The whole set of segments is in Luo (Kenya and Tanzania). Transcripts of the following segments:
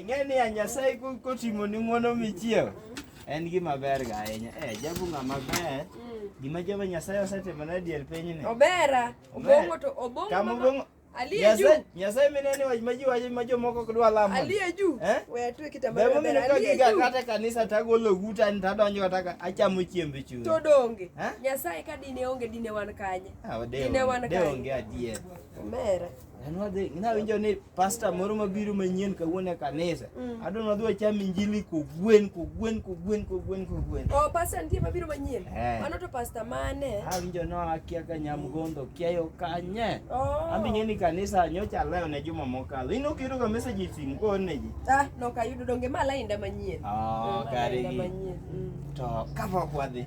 ing'e ni anyasaye kotimo ni ng'uono michiew en gima ber ga ahinya e jabu ng'ama ber gima jehova nyasaye osetimo na dier pinyni obera obongo to obongo nyasaye mineni wach ma ji wacho ma jomoko ok dwa lamo kata kanisa tagolo guta ni tadonjo kata achamo chiembe chuny to donge nyasaye ka dine onge dine wan kanye Inawinjo ni pasta moro mabiro manyien kawuono e kanisa. Mm. Adwa ni wadhi wacham injili kogwen kogwen kogwen kogwen kogwen. Oh, pasta nitie mabiro manyien. Eh. Mano to pasta mane? Awinjo no akia ka nyamgondo kiayo kanye. Oh. Ambinye ni kanisa nyocha leo ne juma mokalo. Ino kiro ka message sin ko ne ji. Ah, no ka yudo donge ma lainda manyien. Oh, mm, kare. Mm. To ka pok wadhi.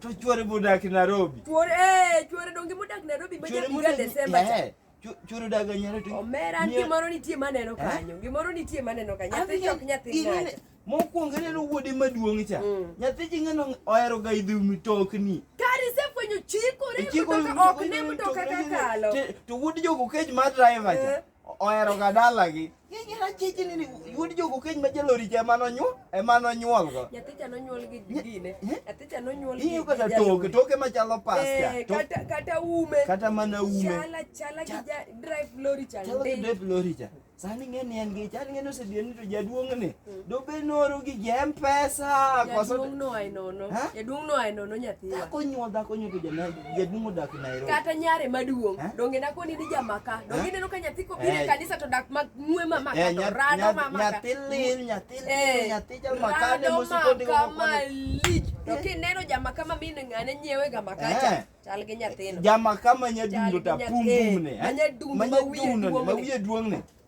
To chuore bodak Nairobi. Chuore eh chuore donge modak Nairobi ma jabi ga Desemba. Eh, chuore odak nyaro to. Omera an gimoro nitie maneno eh? kanyo. Gimoro nitie maneno kanyo. Nyathi chok nyathi ng'ato. Mokwongo neno wuode maduong' cha. Mm. Nyathi ji ng'ano ohero ga idhi mitokni. Kari se fwenyo chikore mtoka ok ne mtoka kakalo. To wuod jogo kech ma driver cha. Eh. ohero ga dalagi Yera chichi nini yuod jogo keny ma jalori cha emano nyuol emano nyuol go. Nyathi cha nonyuol gi gine. Nyathi cha nonyuol gi. Iyo kata toke toke machalo pasta. Eh, kata kata ume. Kata mana ume. Chala chala gi ja drive lorry cha. Chala gi drive lorry cha. Sani ng'e ni en gi chal ng'e ni osedien ni to jaduong' ni. Dobe noro gi jem pesa. Jaduong' no ai nono. Jaduong' no ai nono nyathi. Dhako nyuol dhako nyuol to jana jaduong' odak Nairobi. Kata nyare maduong'. Donge na koni ni jamaka. Donge neno ka nyathi kopire eh. kanisa to dak ma ng'we mama ka eh, to rado mama. Nyathi lil, nyathi lil, eh. nyathi jamaka ne musiko ndi ko. Malich. To kineno jamaka ma min ng'ane nyiewe ga makacha. Chal gi nyathino. Jamaka ma nyadundo ta pum pum ne. Ma nyadundo ma wiye duong' ne.